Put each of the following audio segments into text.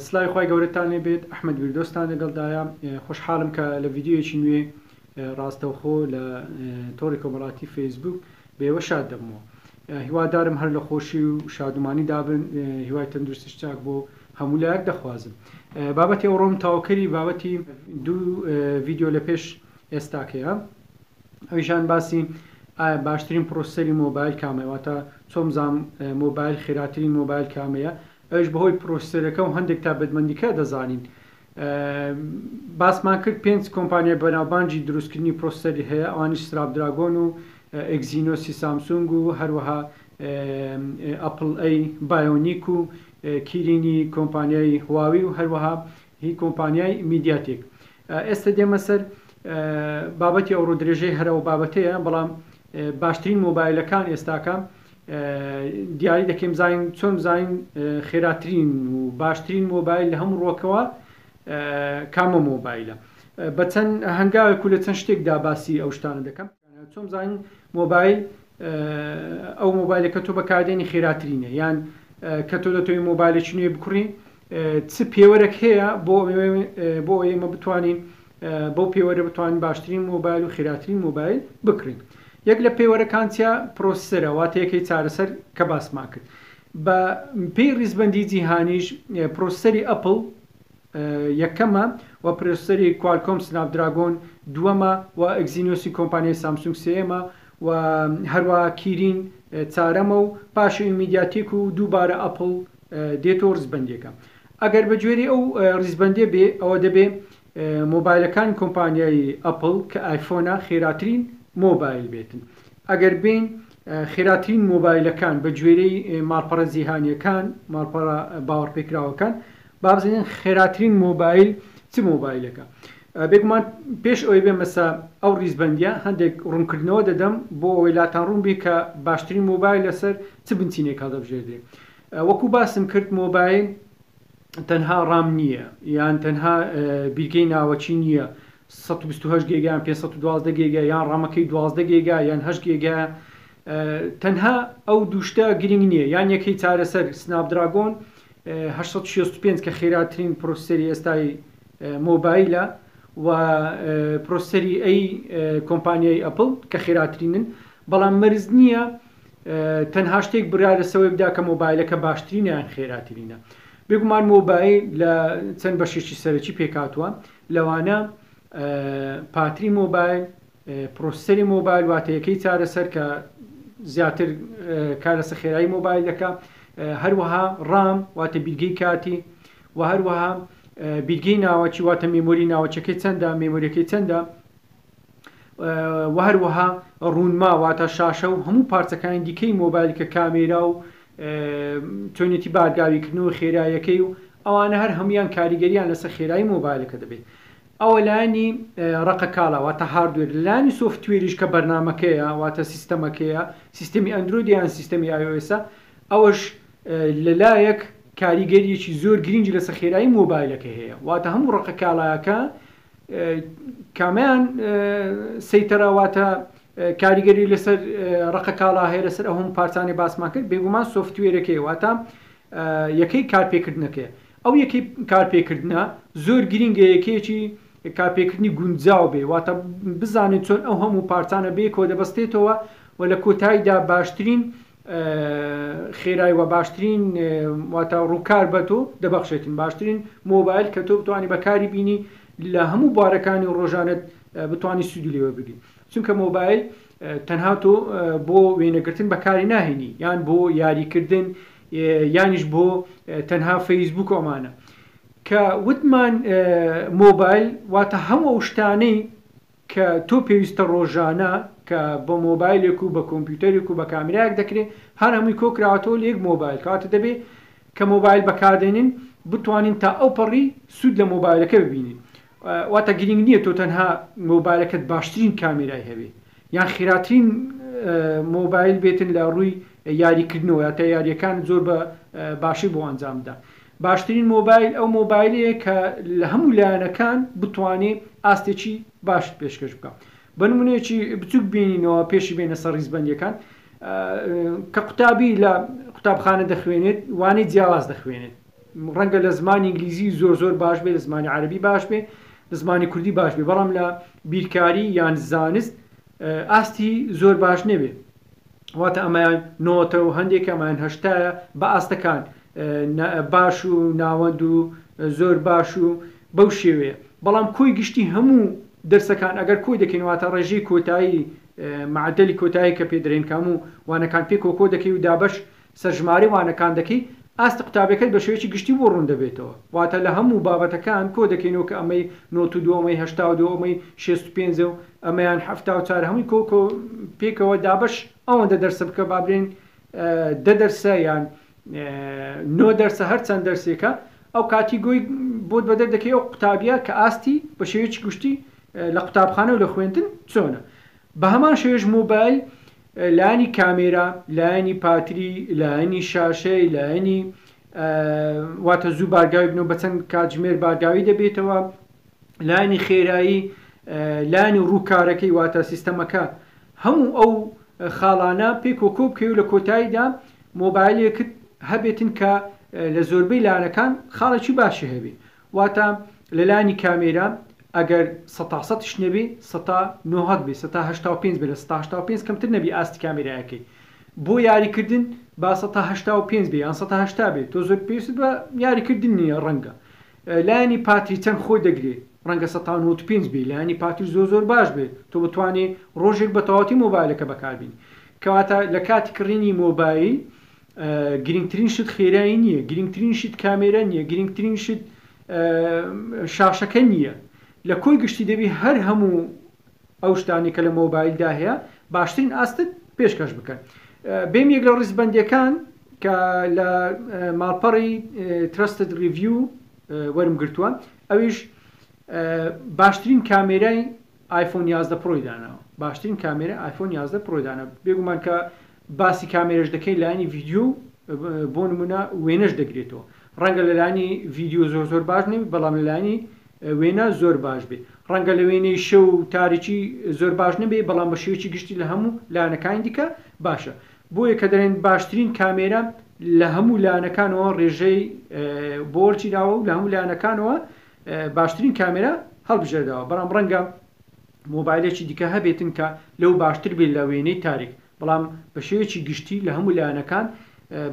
سلاوی خی گەورەتانێ بێت ئەحمد ویردۆستان لەگەڵدایە خۆشحاڵم کە لە یددیویەکی نوێ ڕاستەوخۆ لە تۆڕی کۆمەڵاتی فەیسبوک بێوە شاد دەبمەوە هیوادارم هەر لە خۆشی و شادومانی دابن هیوای تەندروستی چاک بۆ هەموو لایەک دەخوازم بابەتی ئەوڕۆم تاوکەری بابەتی دوو ڤیددیو لە پێش ئێستاکەیە ئەویشان باسی ئایا باشترین پرۆسەری مۆبایل کامەیە واتە چۆم زام مۆبایل خێراترین مۆبایل کامەیە ئەوش بەهۆی پرۆسەرەکە و هەندێک تا بەدمەندیکە دەزانین باسمان کرد پێنج کۆمپانیای بەناوبانجی دروستکردنی پرۆسەری هەیە ئەوانیش سراب دراگۆن و ئەگزینۆسی سامسونگ و هەروەها ئەپل ئەی بایۆنیک و کیرینی کۆمپانیای هواوی و هەروەها هی کۆمپانیای میدیاتێک ئێستە دێمە سەر بابەتی ئەوڕۆ درێژەی هەر ئەو بابەتەیە بەڵام باشترین مۆبایلەکان ئێستاکە دیاری دەکەین بزانین چۆن بزانین خێراترین و باشترین مۆبایل لە هەموو ڕۆکەوە کامە مۆبایلە بە چەند هەنگاوێک و لە چەند شتێکدا باسی ئەو شتانە دەکەم چۆن بزانین مۆبایل ئەو مۆبایلە کە تۆ بەکاردێنی خێراترینە یان کە تۆ دەتەوەی مۆبایلێکی نوێ بکڕی چ پێوەرەک هەیە بۆ بۆ ئێمە بتوانین بەو پێوەرە بتوانین باشترین مۆبایل و خێراترین مۆبایل بکڕین یەک لە پێوەرەکانتیا پرۆسەرە واتەیەکەی چارەسەر کە باسمان کرد بە پێی ڕیزبندی جیهانیش پرۆسەری ئەپل یەکەمە، و پرۆسسەری کوالکۆم سناپ دراگۆن دووەمە، و ئەگزینۆسی کۆمپانیای سامسونگ سێیەمە، و هەروەها کیرین چارەمە و پاشەوی میدیاتێک و دووبارە ئەپڵ دێت و ڕیزبەندیەکە ئەگەر بە گوێرەی ئەو ڕیزبەندیە بێ ئەوە دەبێ مۆبایلەکانی کۆمپانیای ئەپڵ کە ئایفۆنە خێراترین مۆبایل بێتن ئەگەر بێین خێراترین مۆبایلەکان بە گوێرەی ماڵپەڕە جیهانیەکان ماڵپەڕە باوەڕپێکراوەکان با بزانین خێراترین مۆبایل چ مۆبایلێکە؟ بێگومان پێش ئەوەی بێمەسە ئەو ڕیزبەندیە هەندێک ڕوونکردنەوە دەدەم بۆ ئەوەی لاتان ڕوون بێ کە باشترین مۆبایل لەسەر چ بنچینێک هەڵدەبژێردرێ وەکو باسم کرد مۆبایل تەنها ڕام نییە یان تەنها بیرگەی ناوەچی نییە 128 گێگیان 512 گێگە یان ڕامەکەی 12 گێگا یان هەش گێگە تەنها ئەو دوشتە گرنگ نییە یان یەکەی چارەسەر سناپدراگۆن هەشت سەد و شەست و پێنج کە خێراترین پرۆسسەری ئێستای مۆبایلە و پرۆسسەری ئەی کۆمپانیای ئەپڵ کە خێراترینن بەڵام مەرز نییە تەنها شتێک برا لەسەوەی بدا کە مۆبایلەکە باشترینیان خێراترینە بێگومان مۆبایل لە چەند بەشێکی سەرەکی پێکاتوە لەوانە پاتری مۆبایل پرۆسیسەری مۆبایل واتە یەکەی چارەسەر کە زیاتر کار لەسەر خێرایی مۆبایل دەکا هەروەها ڕام واتە بیرگەی کاتی و هەروەها بیرگەی ناوەکی واتە مێمۆری ناوەچەکەی چەندە مێمۆریەکەی چەندە و هەروەها ڕوونما واتە شاشە و هەموو پارچەکانی دیکەی مۆبایل کە کامێرا و چۆنێتی بارگاویکردن و خێرایەکەی و ئەوانە هەر هەمویان کاریگەریان لەسەر خێرایی مۆبایلەکە دەبێت ئەوە لایەنی ڕەقە کالا واتە هاردوێر لەلایەنی سۆفتوێریش کە بەرنامەکەیە واتە سیستەمەکەیە سیستەمی ئەندرۆیدە یان سیستەمی ئای ئۆ ئێسە ئەوەش لەلایەک کاریگەریەکی زۆر گرینگی لەسە خێرایی مۆبایلەکە هەیە واتە هەموو ڕەقە کالاکە کامیان سەیتەرە واتە کاریگەری لەسەر ڕقە کالا هەیە لەسەر ئەهم پارتانی باسمان کرد بێگومان سوفتوێرەکەی واتە یەکەی کارپێکردنەکەی ئەو یەکەی کارپێکردنە زۆر گرینگە یەکەیەکی کارپێکردنی گونجاو بێ واتە بزانێت چۆن ئەو هەموو پارچانە بەیەکەوە دەبەستێتەوە و لە کۆتاییدا باشترین خێرای و باشترین واتە ڕووکار بە تۆ دەبەخشێتن باشترین مۆبایل کە تۆ بتوانانی بەکاری بینی لە هەموو بوارەکانی و ڕۆژانت بتانی سوودی لێوە بگری چونکە مۆبایل تەنها تۆ بۆ وێنەگرتن بەکاری ناهێنی یان بۆ یاریکردن یانیش بۆ تەنها فەیسبووک ئەمانە کە وتمان مۆبایل واتە هەموو ئەو شتانەی کە تۆ پێویستە ڕۆژانە کە بە مۆبایلێک و بە کۆمپیوتەرێک و بە کامراک دەکرێت هەر هەمووی کۆکراوەتەوە لە یەک مۆبایل کاتە دەبێت کە مۆبایل بەکاردێنین بتوانین تا ئەو پەڕی سوود لە مۆبایلەکە ببینین واتە گرینگ نیە تۆ تەنها مۆبایلەکەت باشترین کامێرای هەبێ یان خیراترین مۆبایل بێتن لە ڕووی یاری کردنەوە یاتە یاریەکان زۆر بە باشی بۆ ئەنجام بدا باشترین مۆبایل ئەو مۆبایلەیە کە لە هەموو لایەنەکان بتوانێ ئاستێکی باشت پێشکەش بکە بە نمونەیەکی بچوک بینینەوە پێشی بێنە سەر ڕیزبندەکان کە قوتابی لە قوتابخانە دەخوێنێت وانەی جیاواز دەخوێنێت ڕەنگە لە زمانی ئینگلیزی زۆر زۆر باش بێ، لە زمانی عەرەبی باش بێ، لە زمانی کوردی باش بێ، بەڵام لە بیرکاری یان زانست ئاستی زۆر باش نەبێ. واتە ئەمەیان نۆتە و هەندێک ئەمەیان هەشتایە بە ئاستەکان باش و ناوەند و زۆر باش و بەو شێوەیە. بەڵام کۆی گشتی هەموو دەرسەکان ئەگەر کۆی دەکەین واتە ڕێژەی کۆتایی معدلی کۆتایی کە پێ دەرێن کە هەموو وانەکان پێکەوە کۆ دەکەی و دابەش سەرژماری وانەکان دەکەی، ئاستی قوتابیەکەت بە شێوەیەکی گشتی بۆ ڕوون دەبێتەوە. واتە لە هەموو بابەتەکان کۆ دەکەینەوە کە ئەمەی نۆت و دوو، ئەمەی هەشتا و دوو، ئەمەی شێست و پێنجە و ئەمەیان حەفتا و چوار هەمووی کۆ کۆ پێکەوە دابەش ئەوەندە دەرسە بکە با بلێن دە دەرسە یان نۆ دەرسە هەر چەند دەرسێکە ئەو کاتی گۆی بۆت بەدەر دەکەی ئەو قوتابیە کە ئاستی بە شێوەیەکی گشتی لە قوتابخانە و لە خوێندن چۆنە. بە هەمان شێوەیەش مۆبایل لایەنی کامێرا، لایەنی پاتری، لایەنی شاشەی، لایەنی واتە زوو بارگاوی بنەوە بە چەند کاتژمێر بارگاوی دەبێتەوە، لایەنی خێرایی، لایەنی ڕووکارەکەی واتە سیستەمەکە هەموو ئەو خاڵانە پێکەوە کۆ بکەی و لە کۆتاییدا مۆبایلێکت هەبێتن کە لە زۆربەی لایەنەکان خاڵێکی باشی هەبێ واتە لە لایەنی کامێرا ئەگەر سەتا سەتیش نەبی سەتا نۆهەد بی سەتا هەشتا و پێنج بی لە سەتا هەشتا و پێنج کەمتر نەبی ئاستی کامێرایەکەی بۆ یاری کردن با سەتا هەشتا و پێنج بی یان سەتا هەشتا بی تۆ زۆر پێویست بە یاری کردن نییە ڕەنگە لایەنی پاتری چەند خۆی دەگری ڕەنگە سەتا نۆت و پێنج بی لایەنی پاتری زۆر زۆر باش بێت تۆ بتوانێت ڕۆژێک بە تەواوەتی مۆبایلەکە بەکاربین کەواتە لە کاتی کڕینی مۆبایل گرینگترین شت خێرایی نیە گرینگترین شت کامێرا نیە گرینگترین شت شاشەکە نیە لە کۆی گشتی دەبی هەر هەموو ئەو شتانەی کە لە مۆبایلدا هەیە باشترین ئاستت پێشکەش بکەن بێم یەک لە ڕیزبەندەکان کە لە ماڵپەڕی ترستد ڕیڤیو وەرم گرتووە ئەویش باشترین کامێرای ئایفۆن یازدە پرۆی داناوە. باشترین کامێرای ئایفۆن یازدە پرۆی داناوە. بێگومان کە باسی کامێرەش دەکەین لایەنی ڤیدیۆ و بۆ نموونە وێنەش دەگرێتەوە. ڕەنگە لە لایەنی ڤیدیۆ زۆر زۆر باش نەبێت بەڵام لە لایەنی وێنە زۆر باش بێت. ڕەنگە لە وێنەی شەو و تاریکی زۆر باش نەبێت بەڵام بە شێوەیەکی گشتی لە هەموو لایەنەکانی دیکە باشە. بۆیە کە دەڵێن باشترین کامێرە لە هەموو لایەنەکانەوە ڕێژەی بۆ وەرگیراوە و لە هەموو لایەنەکانەوە باشترین کامێرا هەڵبژێردەوە بەڵام ڕەنگە مۆبایلێکی دیکە هەبێتن کە لەو باشتر بێت لە وێنەی تاریک بەڵام بە شێوەیەکی گشتی لە هەموو لایەنەکان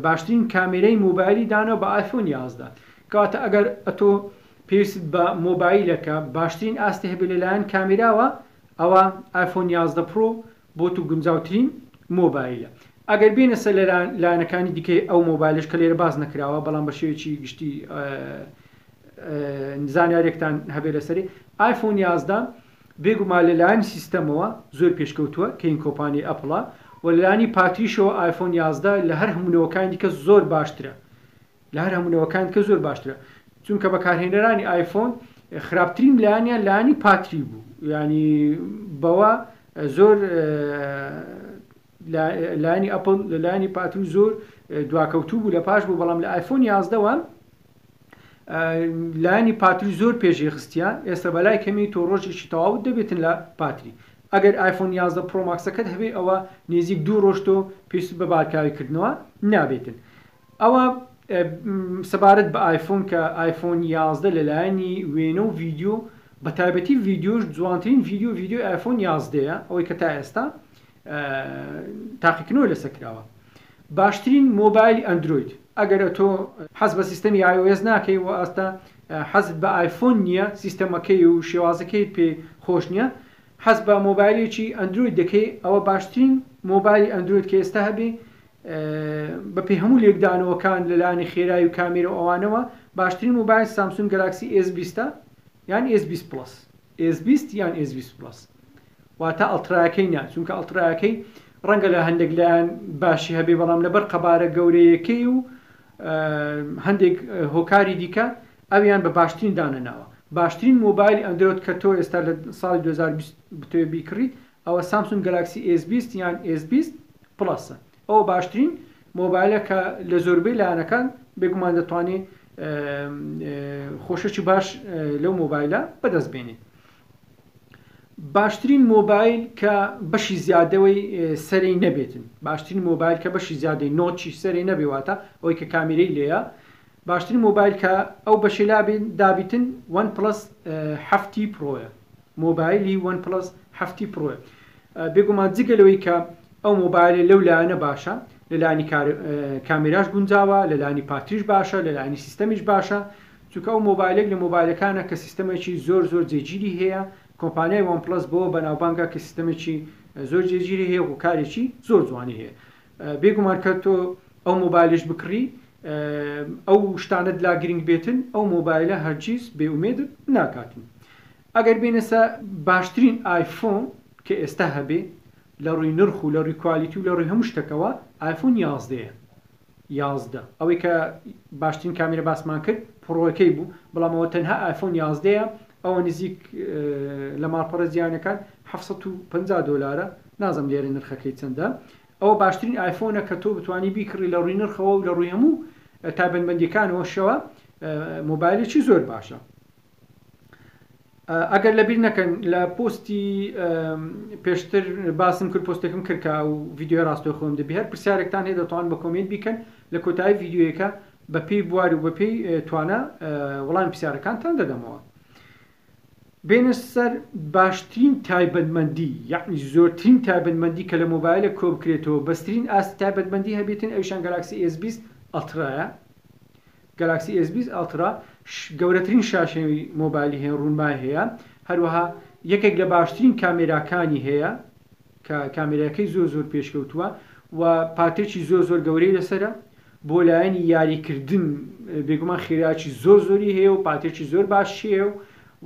باشترین کامێرەی مۆبایلی دانەوە بە ئایفۆن یازدە کەواتە ئەگەر ئەتۆ پێویست بە مۆبایلەکە باشترین ئاستی هەبێت لەلایەن کامێراوە ئەوە ئایفۆن یازدە پرۆ بۆ تو گونجاوترین مۆبایلە. ئەگەر بێینە سەر لە لایەنەکانی دیکەی ئەو مۆبایلەش کە لێرە باس نەکراوە بەڵام بە شێوەیەکی گشتی زانیارێکتان هەبێ لەسەری ئایفۆن یازدە بێگومان لە لایەنی سیستەمەوە زۆر پێشکەوتووە کە هین کۆپانی ئەپڵە و لانی پاتریشەوە ئایفۆن یازدە لە هەر هەموونەوەکانی دیکە زۆر باشترە لە هەر هەموو نەوەکانی تکە زۆر باشترە چونکە بەکارهێنەرانی ئایفۆن خراپترین لایەنیان لانی پاتری بوو ینی بەوە زۆر لانی ئەپل لەلانی پاتر زۆر دواکەوتوو بوو لە پاش بوو بەڵام لە ئایفۆن یازدەوە لانی پاتر زۆر پێشی خستیان ئێستا بەلای کەمی تۆ ڕۆژێکی تەواوت دەبێتن لە پاتری ئەگەر ئایفۆن 11 پرۆماکسەکەت هەبێ ئەوە نێزیک دوو ڕۆشتۆ پێست بە بارکاوی کردنەوە نابێتن ئەوا سەبارەت بە ئایفۆن کە ئایفۆن یازدە لەلایەنی وێنە و ڤیدیۆ بە تایبەتی ڤیدیۆش جوانترین ڤیدیۆ ڤیدیۆی ئایفۆن یازدەیە ئەوەی کە تا ئێستا تاقیکردنەوە لەسەر کراوە باشترین مۆبایلی ئەندروید ئەگەرە تۆ حەز بە سیستەمی iOS ناکەی و ئاستا حەزت بە ئایفۆن نییە سیستەمەکەی و شێوازەکەی پێ خۆش نییە حەز بە مۆبایلێکی ئەندروید دەکەی ئەوە باشترین مۆبایلی ئەندروید کە ئێستا هەبێ بە پێی هەموو لێکدانەوەکان لە لایەنی خێرای و کامێرە و ئەوانەوە باشترین مۆبایل سامسونگ گەلاکسی ئێس بیست ە یان ئێس بیست پڵەس ئێس بیست یان ئێس بیست پڵەس واتە ئەڵترایەکەی نا چونکە ئەڵترایەکەی ڕەنگە لە هەندێک لایەن باشی هەبێ بەڵام لەبەر قەبارە گەورەیەکەی و هەندێک هۆکاری دیکە ئەویان بە باشترین دانەناوە باشترین مۆبایلی ئەندرۆد کە تۆ ئێستا لە ساڵی 2020 بتوێ بیکڕیت ئەوە سامسونگ گەلاکسی ئێس بیست یان ئێس بیست پڵەسە ئەوە باشترین مۆبایلە کە لە زۆربەی لایەنەکان بێگومان دەتوانێت خۆشەکی باش لەو مۆبایلە بەدەست بێنێت باشترین مۆبایل کە بەشی زیادەوەی سەری نەبێتن باشترین مۆبایل کە بەشی زیادەی نۆچی سەری نەبێواتە ئەوەی کە کامیرەی لێە باشترین مۆبایل کە ئەو بەشەی لا دابیتن وەن پڵەس حەفت تی پڕۆیە مۆبایلی وەن پڵەس حەفت تی پڕۆیە بێگومان جگە لەوەی کە ئەو مۆبایلە لەو لایەنە باشە لەلانی کامیراش گونجاوە لەلانی پاتریش باشە لەلانی سیستەمیش باشە چونکە ئەو مۆبایلێک لە مۆبایلەکانە کە سیستەمێکی زۆر زۆر جێگیری هەیە کۆمپانیای وەن پڵەس بۆ بەناوبانگە کە سیستەمێکی زۆر جێگیری هەیە و کارێکی زۆر جوانی هەیە بێگومان کە تۆ ئەو مۆبایلەش بکڕی ئەو شتانەت لا گرنگ بێتن ئەو مۆبایلە هەرگیز بێ ئومێدت ناکاتن ئەگەر بێنەسە باشترین ئایفۆن کە ئێستا هەبێ لە ڕووی نرخ و لە ڕووی کوالیتی و لە ڕووی هەموو شتەکەوە ئایفۆن یازدەیە یازدە ئەوەی کە باشترین کامیرە باسمان کرد پڕۆەکەی بوو بەڵام ئەوە تەنها ئایفۆن یازدەیە ئەوە نزیک لە ماڵپەڕە جیهانیەکان حەفت سەد و پەنجا دۆلارە نازم لێرە نرخەکەی چەندە ئەوە باشترین ئایفۆنە کە تۆ بتانی بیکڕی لە ڕووی نرخەوە و لە ڕووی هەموو تایبەتمەندیەکانەوە شەوە مۆبایلێکی زۆر باشە ئەگەر لەبیر نەکەن لە پۆستی پێشتر باسم کرد پۆستێکم کردکە و یددیو ڕاستەخۆم دەبێت پرسیارێکتان هەیە دەتوان بە کۆمنت بیکەن لە کۆتایی یددیوەکە بە پێی بوار و بە پێی توانا وەڵامی پرسیارەکانتان دەدەمەوە. بێنە سەر باشترین تایبەتمەندی یەعنی زۆرترین تایبەتمەندی کە لە مۆبایلێک کۆ بکرێتەوە بەسترین ئاستی تایبەتمەندی هەبێتن ئەویشان گەلاکسی ئێس بیست ئەڵترایە گەلاکسی ئێس بیست ئەڵترا گەورەترین شاشەی مۆبایلی هەیە ڕوونمای هەیە هەروەها یەکێک لە باشترین کامێراکانی هەیە کە کامێراکەی زۆر زۆر پێشکەوتووە و پاتێکی زۆر زۆر گەورەی لەسرە بۆ لایەنی یاری کردن بێگومان خێرایەکی زۆر زۆری هەیە و پاتێکی زۆر باشی هەیە و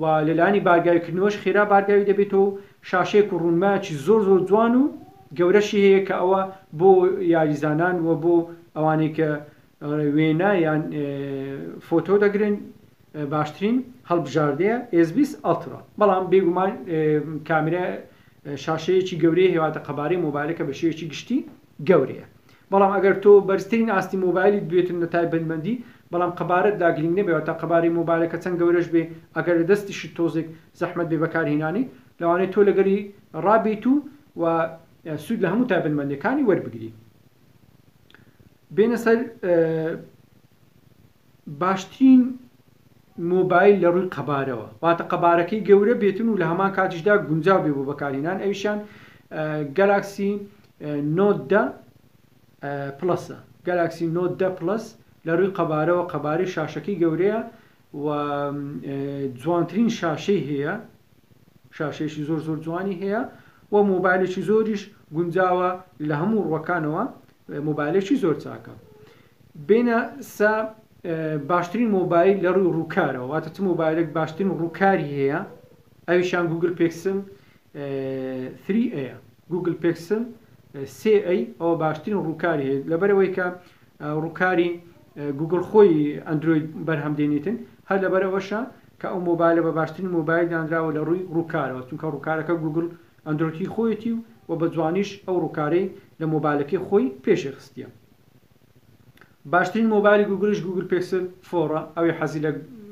و لەلایەنی بارگاوی کردنەوەش خێرا بارگاوی دەبێتەوە و شاشەیەک و ڕوونمایەکی زۆر زۆر جوان و گەورەشی هەیە کە ئەوە بۆ یاریزانان و بۆ ئەوانەی کە وێنە یان فۆتۆ دەگرن باشترین هەڵبژاردەیە ئێزبیس ئەڵترا بەڵام بێگومان کامرە شاشەیەکی گەورەی هێوادە قەبارەی مۆبایلەکە بە شێوەیەکی گشتی گەورەیە بەڵام ئەگەر تۆ بەرزترین ئاستی مۆبایلیت بوێت و نەتای بەندبەندی بەڵام قەبارەت لا گرینگ نەبێ واتا قەبارەی مۆبایلەکە چەند گەورەش بێ ئەگەر لە دەستیشت تۆزێک زەحمەت بێ بەکارهینانی لەوانەیە تۆ لەگەلی ڕابیت و و سود لە هەموو تایبەندبەندیەکانی وەربگری بێنە سەر باشترین مۆبایل لە ڕووی قەبارەوە واتە قەبارەکەی گەورە بێتن و لە هەمان کاتیشدا گونجاو بێ بۆ بەکارهێنان ئەویشان گەلاکسی نۆت دە پلەسە گەلاکسی نۆت دە پلس لە ڕووی قەبارەوە قەبارەی شاشەکەی گەورەیە و جوانترین شاشەی هەیە شاشەیەکی زۆر زۆر جوانی هەیە و مۆبایلێکی زۆریش گونجاوە لە هەموو ڕوەکانەوە مۆبایلێکی زۆر چاکە بینە سا باشترین مۆبایل لە ڕووی ڕووکارەوە واتە چ مۆبایلێک باشترین ڕووکاری هەیە ئەویشان گوگل پێکسن 3 ئەیە گوگل پێکسن سێ ئەی ئەوە باشترین ڕووکاری هەیە لەبەرەوەی کە ڕووکاری گوگل خۆی ئەندروید بەرهەم دێنیتن هەر لەبەرەوەشە کە ئەو مۆبایلە بە باشترین مۆبایل دانراوە لە ڕووی ڕووکارەوە چونکە ڕووکارەکە گووگڵ ئەندرۆیدی خۆیەتی و وە بە جوانیش ئەو ڕووکارەی لە مۆبایلەکەی خۆی پێشێ خستیە باشترین مۆبایلی گووگڵیش گووگڵ پێکسل فۆڕە ئەوێ حەزی لە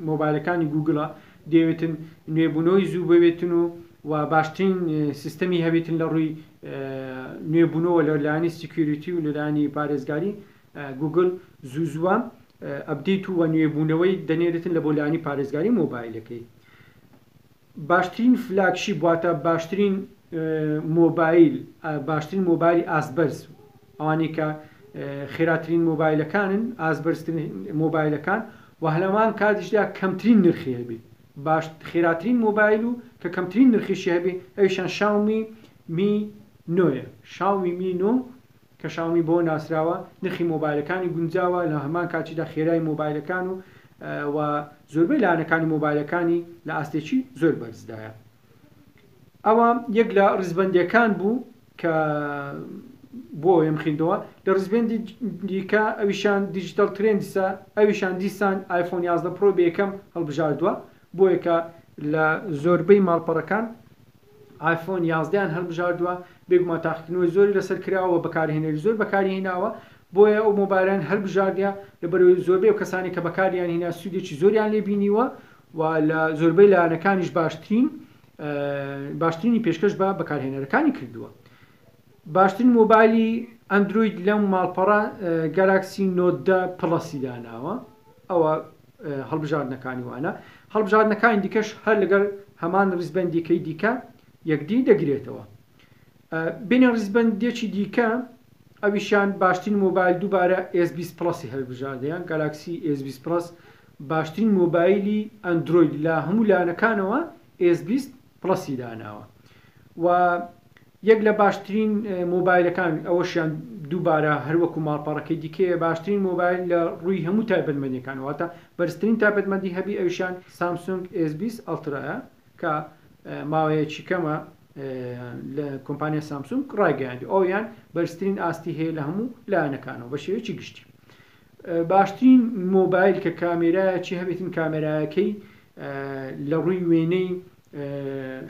مۆبایلەکانی گووگڵە دەیەوێتن نوێبوونەوەی زوو بەوێتن و و باشترین سیستەمی هەبێتن لە ڕووی نوێبوونەوە لە لایەنی سیکیوریتی و لە لایەنی پارێزگاری گوگل زوو زووە ئەپدەیت و نوێبوونەوەی دەنێرێتن لە بۆ لایەنی پارێزگاری مۆبایلەکەی. باشترین فلاگشیپ واتە باشترین مۆبایل باشترین مۆبایلی ئاستبەرز ئەوانەی کە خێراترین مۆبایلەکانن ئازبەرزترین مۆبایلەکان و هەلەمان کاتیشدا کەمترین نرخی هەبێ باش خێراترین مۆبایل و کە کەمترین نرخیشی هەبێ ئەوشان شاومی می نۆە شاومی می نۆ کە شاومی بەوە ناسراوە نرخی مۆبایلەکانی گونجاوە لە هەمان کاتیشدا خێرای مۆبایلەکان و و زۆربەی لایەنەکانی مۆبایلەکانی لە ئاستێکی زۆر بەرزدایە ئەوە یەک لە ڕیزبەندیەکان بوو کە بۆ ئەوێم خیندەوە لە ڕزبێندی دیکە ئەویشان دیجیتال ترندسە ئەویشان دیسان آیفۆن 11 پرۆ بێکەم هەڵبژاردووە بۆیەکە لە زۆربەی ماڵپەڕەکان ئایفۆن یازدەیان هەڵبژاردووە، بێگومان تاقیکردنەوەی زۆری لەسەر کراوە و بەکارهێنەری زۆر بەکاریهێناوە، بۆیە ئەو مۆبایلەیان هەڵبژاردە، لەبەرئەوەی زۆربەی ئەو کەسانەی کە بەکاریانهێنا سوودێکی زۆریان لێ بینیوە و لە زۆربەی لایەنەکانیش باشترین باشترینی پێشکەش بە بەکارهێنەرەکانی کردووە. باشترین مۆبایلی ئەندرۆید لەم ماڵپەڕە گەلاکسی نۆت دە پڵەسی داناوە ئەوە هەڵبژاردنەکانی وانە هەڵبژاردنەکانی دیکەش هەر لەگەر هەمان ڕیزبندیکەی دیکە یەکدی دەگرێتەوە بینە ڕیزبندێکی دیکە ئەویشان باشترین مۆبایل دووبارە S20 پلسی هەلبژاردەیان گالاکسی S20 پلس باشترین مۆبایلی ئەندروید لە هەموو لایەنەکانەوە S20 پڵەسی داناوە و یەک لە باشترین مۆبایلەکان ئەوەشیان دووبارە هەروەکو ماڵپەڕەکەی دیکەیە باشترین مۆبایل لە ڕووی هەموو تایبەتمەندیەکان واتە بەرزترین تایبەتمەندی هەبی ئەوشان سامسونگ S20 ئەڵترایە کە ماوەیەکی کەمە لە کۆمپانیا سامسونگ ڕایگەیاندی ئەویان بەرزترین ئاستی هەیە لە هەموو لایەنەکانەوە بە شێوەیەکی گشتی باشترین مۆبایل کە کامێرایەکی هەبێتن کامێرایەکەی لە ڕووی وێنەی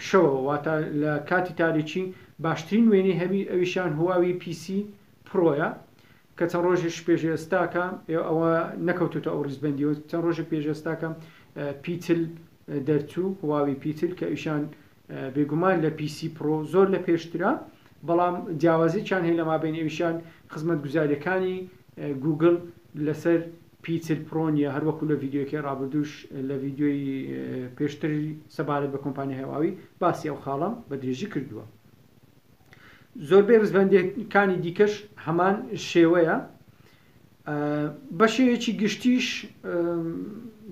شەوە واتە لە کاتی تاریکی باشترین وێنەی هەبی ئەویشان هواوی پیسی پرۆیە کە چەند ڕۆژێش پێش ئێستاکە ئەوە نەکەوتوتە ئەو ڕیزبندیەوە چەند ڕۆژە پێش ئێستاکە پیتل دەرچوو هواوی پیتل کە ئیشان بێگومان لە پی سی پرۆ زۆر لە پێشترە بەڵام جیاوازیکیان هەیە لە مابین ئەویشان خزمەتگوزاریەکانی گوگل لەسەر پیتر پرۆ نیە هەروەکو لە ڤیددیوکەی ڕابردوش لە ڤیددیۆی پێشتر سەبارەت بە کۆمپانی هەواوی باسی ئەو خاڵم بە درێژی کردووە زۆربەی ڕزبندەکانی دیکەش هەمان شێوەیە بە شێوەیەکی گشتیش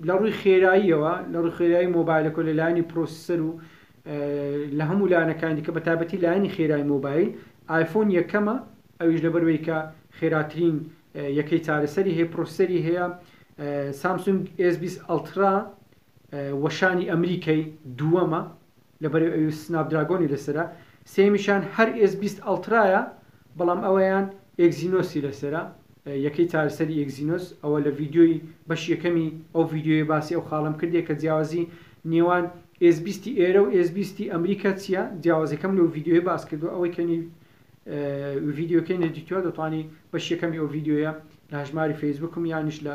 لە ڕووی خێراییەوە لە ڕووی خێرایی مۆبایلەکە لە لایەنی پرۆسیسەر و لە هەموو لایەنەکانی کە بە تابەتی لایەنی خێرای مۆبایل ئایفۆن یەکەمە ئەویش لەبەروەی کە خێراترین یەکەی چارەسەری هەیە پرۆسەری هەیە سامسونگ S20 ئەلترا وەشانی ئەمریکای دووەمە لەبەرئ ئەوی سناپ دراگۆنی لەسەرە سێیەمیشیان هەر ئێس بیست ئەڵترایە بەڵام ئەویان ئێکزینۆسی لەسەرە یەکەی چارەسەری ئێکزینۆس ئەوە لە ڤیدیۆی بەشی یەکەمی ئەو ڤیدیۆیە باسی ئەو خاڵەم کردیە کە جیاوازی نێوان ئێس بیستی ئێرە و ئێس بیستی ئەمریکا چیە جیاوازەکەم لەو ڤیدیۆیە باس کردوە ئەوەی کە نی ڤیدیۆکەی نەدیتوە دەتوانی بەشی یەکەمی ئەو ڤیدیۆیە لە هەژماری فەیسبوکم یانیش لە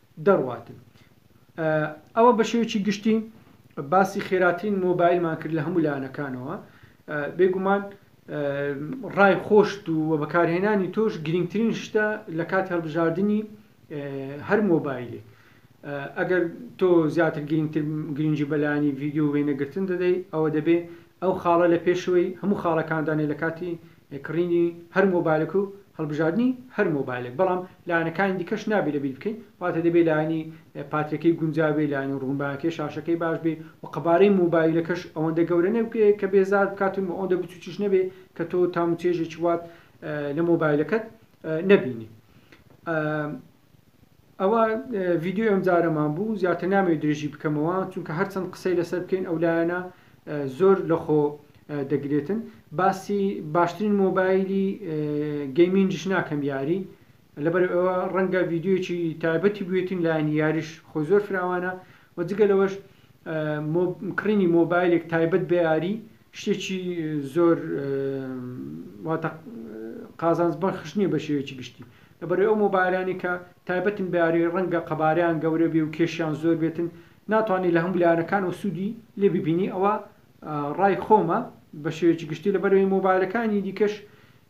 دەڕواتن. ئەوە بە شێوەیەکی گشتی باسی خێراترین مۆبایلمان کرد لە هەموو لایەنەکانەوە. بێگومان ڕای خۆشت و بەکارهێنانی تۆش گرنگترین شتە لە کاتی هەڵبژاردنی هەر مۆبایلێک. ئەگەر تۆ زیاتر گرنگتر گرنگی بەلانی ڤیددیو وێنەگرتن دەدەی ئەوە دەبێ ئەو خاڵە لە پێشەوەی هەموو خاڵەکاندانێ لە کاتی ی کڕینی هەر مۆبایلێک و هەڵبژاردنی هەر مۆبایلێک بەڵام لایەنەکانی دیکەش نابێ لەبیر بکەین واتە دەبێ لایەنی پاترەکەی گونجاو بێ لایەنی ڕوونباکەی شاشەکەی باش بێ و قەبارەی مۆبایلەکەش ئەوەندە گەورە نەبێ کە بێزارت بکات و ئەوەندە بچووکیش نەبێ کە تۆ تام و چێژێکی وات لە مۆبایلەکەت نەبینی. ئەوە ڤیدیۆی ئەمجارەمان بوو زیاتر نامەوێت درێژی بکەمەوە چونکە هەرچەند قسەی لەسەر بکەین ئەو لایەنە زۆر لەخۆ دەگرێتن باسی باشترین مۆبایلی گەیمینجش ناکەم یاری لەبەر ئەوە ڕەنگە ڤیددیویی تایبەتی بێتین لایەن یاریش خۆ زۆر فراوانە و جگە لەوەش کڕینی مۆبایلێک تایبەت بە یاری شتێکی زۆر واتە قازانج بەخش نییە بە شێوەیەکی گشتی لەبەرەی ئەو مۆبایلانی کە تایبەتن بە یاری ڕەنگە قەبارەیان گەورە بێ و کێشیان زۆر بێتن ناتوانانی لە هەموو لایەنەکانەوە سوودی لێ ببینی ئەوە ڕای خۆمە بە شێوەیەکی گشتی لەبەرەوەی مۆبایلەکانی دیکەش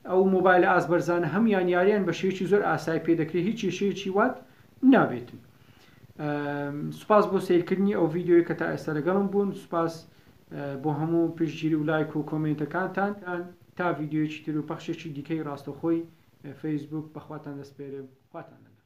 ئەو مۆبایلە ئاست بەرزانە هەمویان یاریان بە شێوەیەکی زۆر ئاسای پێ دەکرێت هیچ کێشەیەکی وات نابێتن سوپاس بۆ سەیرکردنی ئەو ڤیدیۆیە کە تا ئێستا لەگەڵم بوون سوپاس بۆ هەموو پشتگیری و لایک و کۆمێنتەکانتان تا ڤیدیۆیەکی تر و پەخشێکی دیکەی ڕاستەوخۆی فەیسبووک بەخواتان دەسپێرم خواتان لەگەڵ.